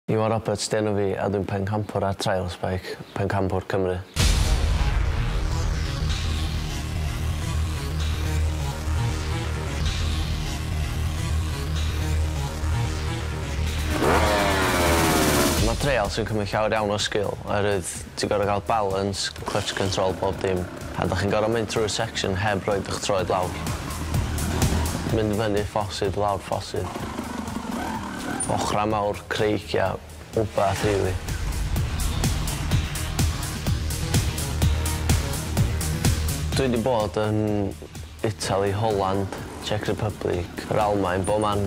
Iwan Roberts 'di enw fi a dwi'n pencampwr ar Trials Bike Pencampwr Cymru. Mae Trials yn cymryd llawer iawn o sgil oherwydd Ti'n gor'o' ga'l balance, clutch control, bob dim. A 'dach chi'n gor'o' mynd trwy'r section heb roid 'ych troed lawr. Mynd fyny ffosydd, lawr ffosydd. Ochra' mawr creigia' wbath rili. Dwi 'di bod yn Itali, Holand, Czech Republic, yr Almaen, bob man.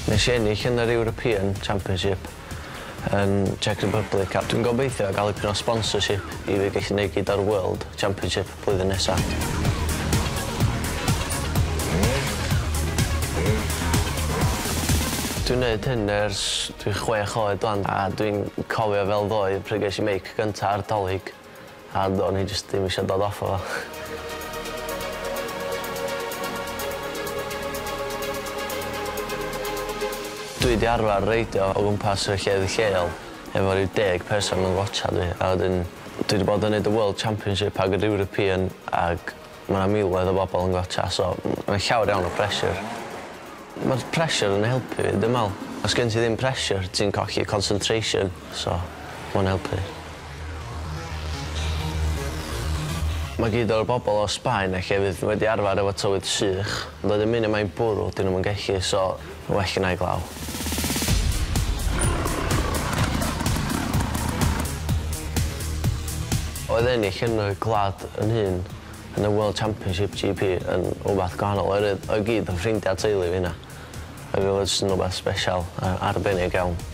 Nes i ennill yn yr European Championship yn Czech Republic a dwi'n gobeithio gael dipyn o sponsorship i fi gallu neud gyd o'r World Championship blwyddyn nesa. Dwi'n neud hyn ers dwi chwech oed wan a dwi'n cofio fel ddoe pryd ges i meic. Gynta ar dolig a do'n i jyst ddim isio dod off o fo. Dwi 'di arfar reidio o gwmpas y llefydd lleol efo ryw deg person yn watsiad fi a wedyn dwi 'di bod yn neud y World Championship ag yr European ag Ma' 'na miloedd o bobl yn gwatsiad so ma' 'na llawer iawn o pressure. Ma'r pressure yn helpu fi dwi me'wl. Os gen ti ddim pressure ti'n colli concentration so ma' o'n helpu. Ma' gyd o'r bobl o Sbaen a llefydd wedi arfer efo tywydd sych ond wedyn munud mae'n bwrw 'dyn nw'm yn gellu so Mae well gynna i glaw. Oedd ennill yn y gwlad yn hun yn y World Championship GP yn wbath gwahanol oherwydd oedd gyd yn ffrindia teulu fi yna ag odd o jyst yn wbath sbesial a arbennig iawn.